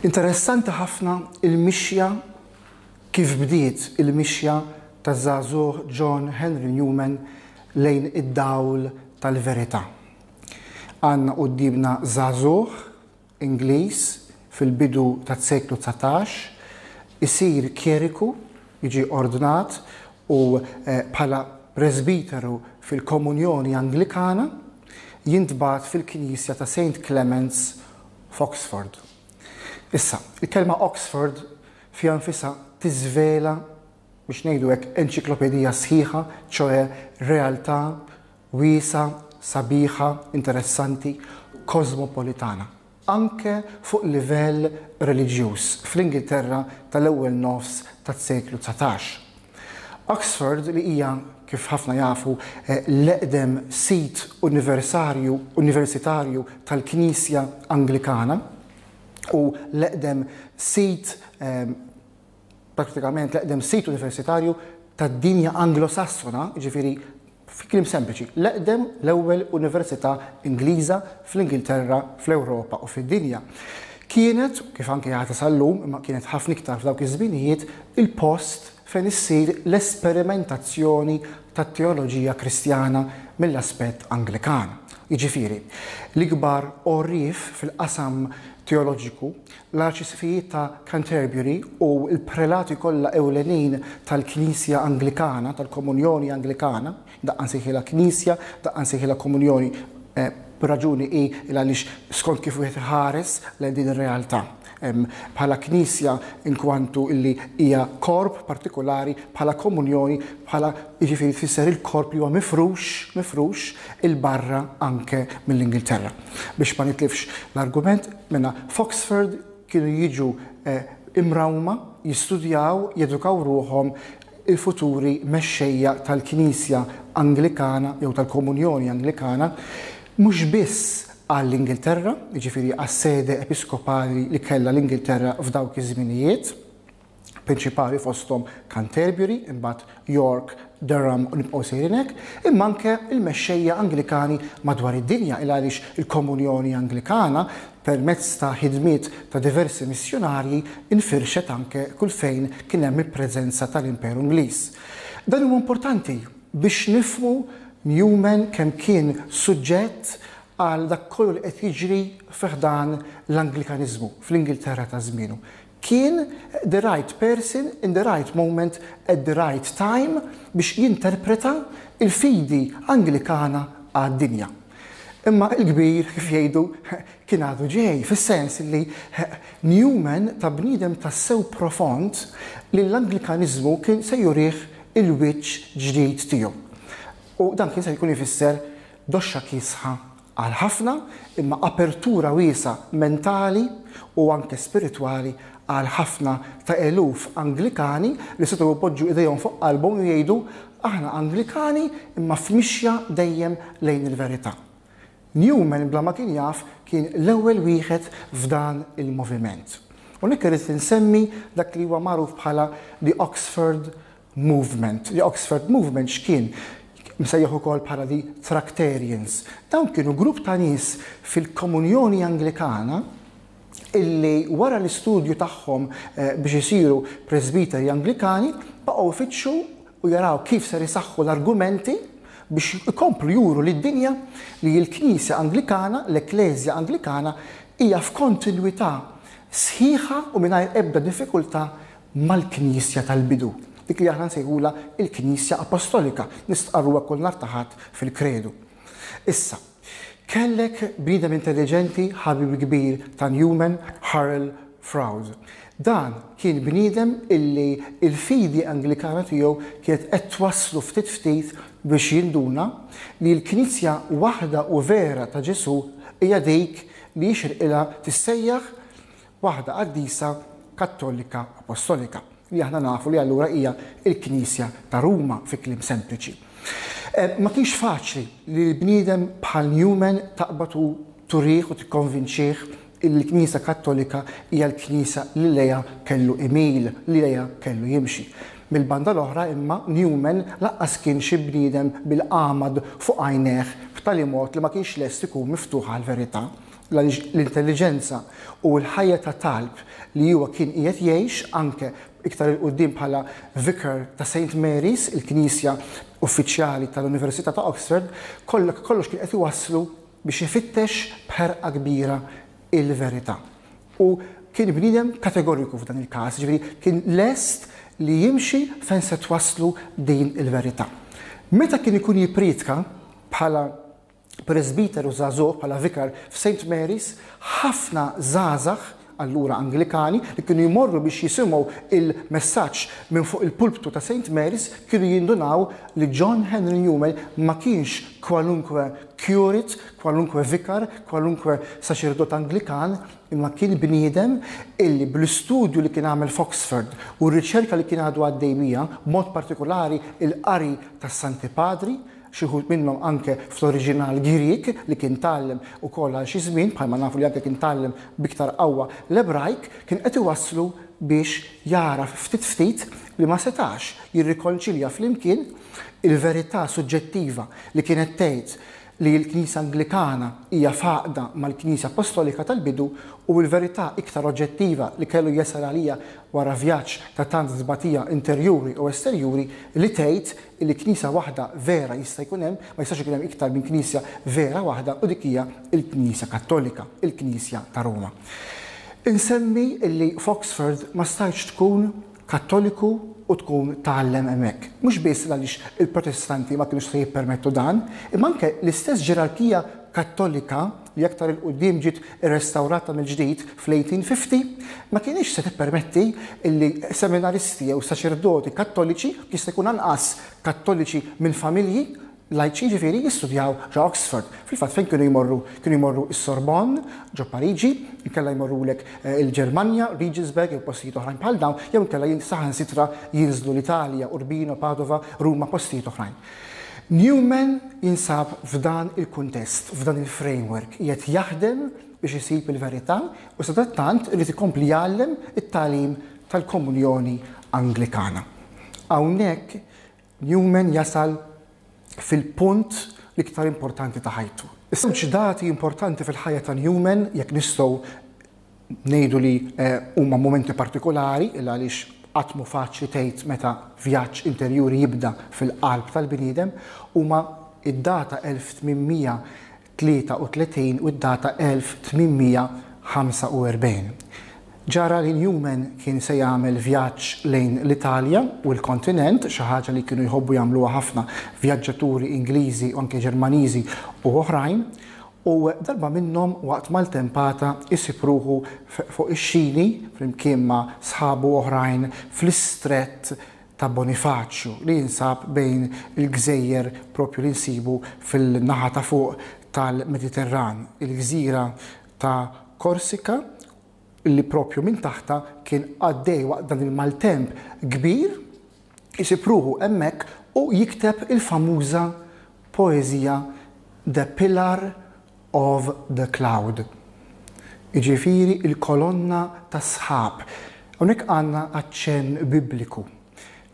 Interessanti ħafna il-mixja kif bdiet il-mixja ta' żagħżugħ John Henry Newman lejn id-dawl tal-verità. Għandna quddiemna żagħżugħ Ingliż fil-bidu tas-seklu dsatax, isir kjeriku, jiġi ordnat u bħala presbiteru fil-Komunjoni Anglikana, jintbagħat fil-knisja ta' Saint Clements f'Oxford. Issa, il-kelma Oxford fiha nfisha tiżvela, biex ngħidu hekk, enċiklopedija sħiħa, ċoe realtà Wiesgħa, sabiħa, interessanti, kosmopolitana. Anke fuq livell reliġjuż fl-Ingilterra tal-ewwel nofs tas-seklu dsatax. Oxford li hija, kif ħafna jafu, l-eqdem sit universarju, universitarju, tal-Knisja Anglikana u l-eqdem sit prattikament l-eqdem sit universitarju tad-dinja Anglo-Sassona, jiġifieri fi kliem sempliċi, l-eqdem, l-ewwel università Ingliża fl-Ingilterra, fl-Ewropa u fid-dinja. Kienet, kif anke għadha sal-lum, imma kienet ħafna iktar f'dawk iż-żminijiet, il-post fejn issir l-esperimentazzjoni tat-teoloġija Kristjana mill-aspett Anglikan. Jiġifieri, l-ikbar għorrief fil-qasam teoloġiku, l-Arċisqfijiet ta' Canterbury u l-prelati kollha ewlenin tal-Knisja Anglikana, tal-Komunjoni Anglikana, daqqa nsejħilha Knisja, daqqa nsejħilha Komunjoni, b'raġuni hi il għaliex skont kif wieħed iħares lejn din ir-realtà bħala Knisja inkwantu illi hija korp partikulari, bħala Komunjoni, bħala jiġifieri tfisser il-korp li huwa mifrux, mifrux, 'il barra anke mill-Ingilterra. Biex ma nitlifx l-argument, Mela, f'Oxford kienu jiġu imrawma jistudjaw, jedukaw ruħhom il-futuri mexxejja tal-Knisja Anglikana jew tal-Komunjoni Anglikana, mhux biss għall-Ingilterra, jiġifieri għas-sede episkopali li kellha l-Ingilterra f'dawk iż-żminijiet. prinċipali fosthom Canterbury, imbagħad York, Durham u nibqgħu sejrin hekk, imma anke l-mexxejja Anglikani madwar id-dinja il għaliex il-Komunjoni Anglikana permezz ta' ħidmiet ta' diversi missjunarji infirxet anke kull fejn kien hemm il-preżenza tal-Imperu Ingliż. Dan huwa importanti biex nifhmu Newman kemm kien suġġett għal dak kollu li qed jiġri fi ħdan l-Anglikaniżmu fl-Ingilterra ta' żmienu. kien the right person in the right moment at the right time biex jinterpreta l-fidi Anglikana għad-dinja. Imma il-kbir, kif jgħidu, kien għadu ġej, fis-sens li Newman ta bniedem tassew profond li l-Anglikaniżmu kien se jurih il-wiċċ ġdid tiegħu. U dan kien se jkun ifisser doxxa kiesħa Għal ħafna, imma apertura wiesgħa mentali u anke spiritwali għal ħafna ta' eluf Anglikani li setgħu jpoġġu idejhom fuq qalbhom u jgħidu, Aħna Anglikani imma f'mixja dejjem lejn il-verità. Newman bla ma kien jaf kien l-ewwel wieħed f'dan il-moviment. U hawnhekk irrid insemmi dak li huwa magħruf bħala The Oxford Movement. The Oxford Movement x'kien? Msejjaħ ukoll bħala the Tractarians. Dawn kienu grupp ta' nies fil-Komunjoni Anglikana illi wara l-istudju tagħhom eh, biex isiru Presbiteri Anglikani baqgħu jfittxu u jaraw kif ser isaħħu l-argumenti biex ikomplu juru lid dinja li l-Knisja Anglikana, l-Ekklesja Anglikana, hija f'kontinwità sħiħa u mingħajr ebda diffikultà mal-Knisja tal-bidu, dik li aħna nsejħulha l-Knisja Apostolika, nistqarruha kull nhar ta' Ħadd fil-Kredu. Issa, kellek bniedem intelliġenti, ħabib kbir ta' Newman, Hurrell Froude. Dan kien bniedem illi l-fidi Anglikana tiegħu kienet qed twasslu ftit ftit biex jinduna li l-Knisja waħda u vera ta' Ġesù hija dik li jixirqilha tissejjaħ waħda qaddisa Kattolika Apostolika, li aħna nafu li allura hija l-Knisja ta' Ruma fi kliem sempliċi. Ma kienx faċli li l-bniedem bħal Newman taqbad u turih u tikkonvinċih li l-Knisja Kattolika hija l-Knisja li lejha kellu imil, li lejha kellu jimxi. Mill-banda l-oħra imma Newman lanqas kien xi bniedem bil-għamad fuq għajnejh b'tali mod li ma kienx lest ikun miftuħ għall-verità. għaliex l-intelliġenza u l-ħajja ta' talb li huwa kien qiegħed jgħix, anke iktar 'il quddiem bħala Vicar ta' Saint Mary's, il-knisja uffiċjali tal-Università ta' Oxford, kollha kollox kien qed iwasslu biex ifittex b'ħerqa kbira l-verità. U kien bniedem kategoriku f'dan il-każ, jiġifieri kien lest li jimxi fejn se twasslu din il-verità. Meta kien ikun jippriedka bħala presbiteru żagħżugħ, bħala vikar f'Saint Mary's, ħafna żgħażagħ allura Anglikani li kienu jmorru biex jisimgħu il-messaġġ minn fuq il-pulptu ta' Saint Mary's kienu jindunaw li John Henry Newman ma kienx kwalunkwe curate, kwalunkwe vikar, kwalunkwe saċerdot Anglikan, imma kien bniedem illi bl-istudju li kien għamel f'Oxford u r-riċerka li kien għadu għaddej bija, mod partikolari il-qari tas-Santi Padri, xi wħud minnhom anke fl-oriġinal Grieg li kien tgħallem ukoll għal xi żmien, bħalma nafu li anke kien tgħallem b'iktar qawwa l-Ebrajk, kien qed iwasslu biex jagħraf ftit ftit li ma setax jirrikonċilja flimkien il-verità suġġettiva li kienet tgħid li l-Knisja Anglikana hija f'għaqda mal-Knisja Appostolika tal-bidu u l-verità iktar oġġettiva li kellu jasal għaliha wara vjaġġ ta' tant tbatija interjuri u esterjuri li tgħid illi Knisja waħda vera jista' jkun hemm, ma jistax ikun hemm iktar minn Knisja vera waħda u dik hija l-Knisja Kattolika, il-Knisja ta' Ruma. Insemmi illi f'Oxford ma stajtx tkun Kattoliku u tkun tgħallem hemmhekk. Mhux biss għaliex il-Protestanti ma kinux se jippermettu dan, imma anke l-istess ġerarkija Kattolika, li aktar 'il quddiem ġiet irrestawrata mill-ġdid fl-1850, ma kinitx se tippermetti li seminaristi jew saċerdoti Kattoliċi, jista' jkun anqas Kattoliċi minn familji lajċi jiġifieri, jistudjaw ġo Oxford. Fil-fatt fejn kienu jmorru? Kienu jmorru s-Sorbonne ġo Pariġi, inkella jmorrulek eh, il-Ġermanja, Regensburg jew postijiet oħrajn bħal dawn, jew inkella saħansitra jinżlu l-Italja, Urbino, Padova, Ruma, postijiet oħrajn. Newman jinsab f'dan il-kuntest, f'dan il-framework, qiegħed jaħdem biex isib il-verità u sadattant irid ikompli jgħallem it-tagħlim tal-Komunjoni Anglikana. Hawnhekk Newman jasal fil-punt l-iktar importanti ta' ħajtu. Iż-żewġ dati importanti fil-ħajja ta' Newman, jekk nistgħu Ngħidu li huma mumenti partikulari il għaliex qatt mhu faċli tgħid meta vjaġġ interjuri jibda fil-qalb tal-bniedem, huma d-data 1833 u d-data 1845. Ġara li Newman kien se jagħmel vjaġġ lejn l-Italja u l-kontinent, xi ħaġa li kienu jħobbu jagħmluha ħafna vjaġġaturi Ingliżi u anke Ġermaniżi u oħrajn, U darba minnhom waqt maltempata jsib ruħu fuq ix-xini flimkien ma' sħabu oħrajn fl-istrett ta' Bonifaċju li jinsab bejn il-gżejjer propju li nsibu fil-naħa ta' fuq tal-Mediterran, il-gżira ta' Korsika li propju minn taħtha kien għaddej waqt dan il-maltemp kbir. isib ruħu hemmhekk u jikteb il-famuża poeżija The Pillar of the Cloud, jiġifieri l-kolonna tas-sħab. Hawnhekk għandna aċċenn Bibliku.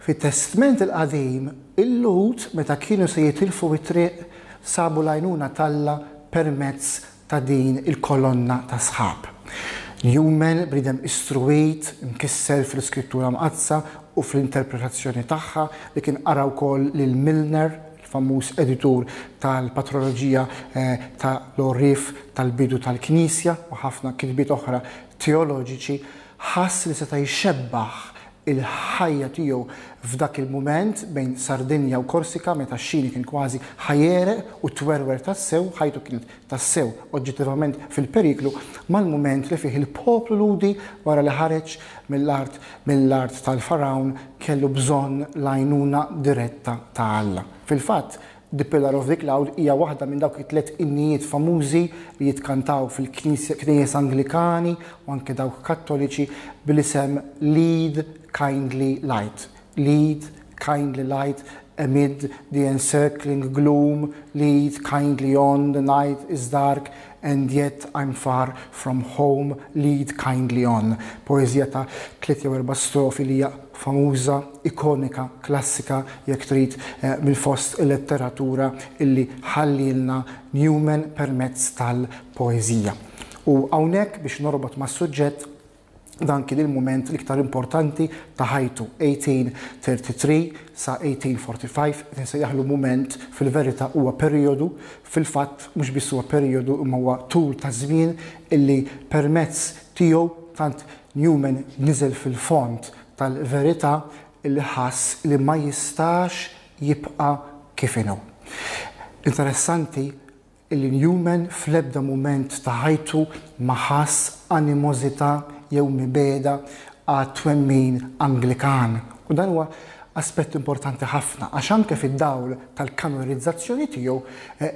Fit-Testment il-Qadim, il-Lhud meta kienu se jitilfu t-triq sabu l-għajnuna t'Alla permezz ta' din il-kolonna ta' sħab. Newman, bniedem istruwit, imkisser fl-Iskrittura Mqaddsa u fl-interpretazzjoni tagħha, li kien qara wkoll lil Milner, il-famuż editur tal-patroloġija ta' l-għorrief tal-bidu tal-Knisja u ħafna kitbiet oħra teoloġiċi, ħass li seta' jxebbah il-ħajja tiegħu f'dak il-mument bejn Sardinja u Korsika meta x-Xini kien kważi ħa jegħreq u twerwer tassew, ħajtu kienet tassew oġġettivament fil-periklu, mal-mument li fih il-poplu Lhudi wara li ħareġ mill-art mill-art tal-Fargħun kellu bżonn l-għajnuna diretta ta' Alla. Fil-fatt, The Pillar of the Cloud hija waħda minn dawk it-tliet innijiet famużi li jitkantaw fil-knejjes Anglikani u anke dawk Kattoliċi bl-isem Lead, Kindly Light. Lead, Kindly Light Amid the encircling gloom, lead kindly on, the night is dark, And Yet I'm Far From Home Lead Kindly On, poeżija ta' tliet jew erba' strofi li hija famuża, ikonika, klassika jekk trid, minn fost il-letteratura illi ħallielna Newman permezz tal-poeżija. U hawnhekk, biex norbot mas-suġġett, dan kien il-mument l-iktar importanti ta' ħajtu, 1833 sa 1845, qed insejjaħlu mument, fil-verità huwa perijodu, fil-fatt mhux biss huwa perijodu imma huwa tul ta' żmien illi permezz tiegħu tant Newman niżel fil-fond tal-verità illi ħass li ma jistax jibqa' kif inhu. Interessanti Illi Newman fl-ebda mument ta' ħajtu ma ħass animożità jew mibegħda għat-twemmin Anglikan. U dan huwa aspett importanti ħafna, għax anke fid-dawl tal-kanorizzazzjoni tiegħu,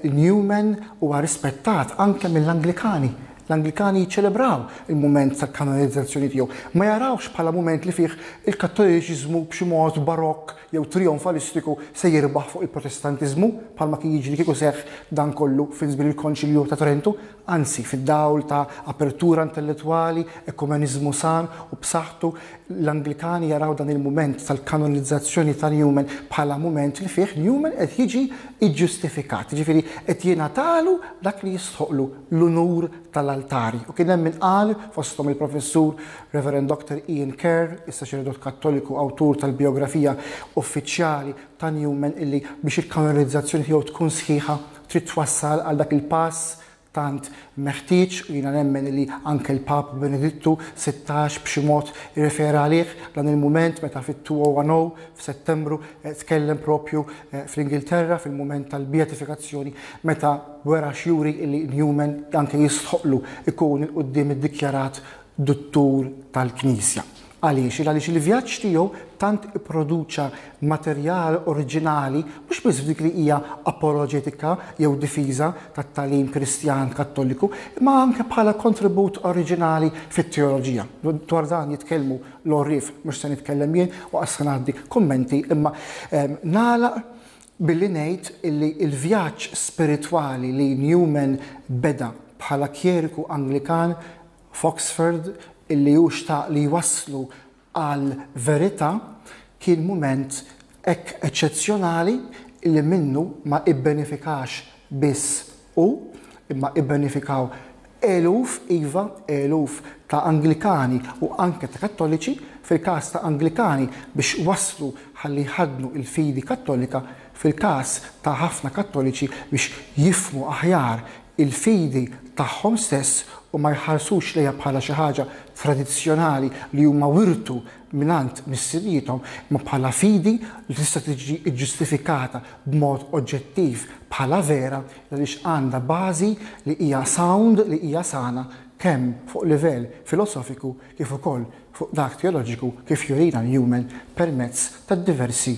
Newman huwa rispettat anke mill-Anglikani. L-Anglikani jiċċelebraw il-mument tal-kanorizzazzjoni tiegħu. Ma jarawhx bħala mument li fih il-Kattoliċiżmu b'xi mod barokk jew trijonfalistiku se jirbaħ fuq il-Protestantiżmu, bħalma kien jiġri kieku seħħ dan kollu fi żmien il-Konċilju ta' Trentu, anzi, fid-dawl ta' apertura intellettwali, ekumeniżmu san u b'saħħtu, l-Anglikani jaraw dan il-mument tal-kanonizzazzjoni ta' Newman bħala mument li fih Newman qed jiġi ġġustifikat, jiġifieri qed jingħatalu dak li jistħoqqlu, l-unur tal-altari. U kien hemm min qal, fosthom il-Professur Reverend Doctor Ian Kerr, is-saċerdot Kattoliku awtur tal-bijografija uffiċjali ta' Newman illi biex il-kanonizzazzjoni tiegħu tkun sħiħa trid twassal għal dak il-pass tant meħtieġ u jiena nemmen illi anke l-Pap Benedittu 16 b'xi mod irrefera għalih dan il-mument meta fit-2010 f'Settembru eh, tkellem propju eh, fl-Ingilterra fil-mument tal-beatifikazzjoni meta wera xjuri illi Newman anke jistħoqlu ikun il-qudiem iddikjarat duttur tal-Knisja. Għaliex? Għaliex il-vjaġġ tiegħu tant ipproduċa materjal oriġinali mhux biss f'dik li hija apoloġetika jew difiża tat-tagħlim Kristjan Kattoliku, imma anke bħala kontribut oriġinali fit-teoloġija. Dwar dan jitkellmu l-għorrief, mhux se nitkellem jien u qas se ngħaddi kummenti, imma nagħlaq Billi ngħid illi l-vjaġġ spiritwali li Newman beda bħala kjeriku Anglikan f'Oxford illi hu xtaq li jwasslu għal verità kien mument hekk eċċezzjonali illi minnu ma ibbenefikax biss hu, imma ibbenefikaw eluf, iva, eluf ta' Anglikani u anke ta' Kattoliċi, fil-każ ta' Anglikani biex wasslu ħalli jħaddnu il-fidi Kattolika, fil-każ ta' ħafna Kattoliċi biex jifhmu aħjar il-fidi tagħhom stess u ma jħarsux lejha bħala xi ħaġa tradizzjonali li huma wirtu mingħand missiriethom imma bħala fidi li tista' tiġi ġġustifikata b'mod oġġettiv bħala vera għaliex għandha bażi li hija sound, li hija sana kemm fuq livell filosofiku kif ukoll fuq dak teoloġiku kif jurina Newman permezz tad-diversi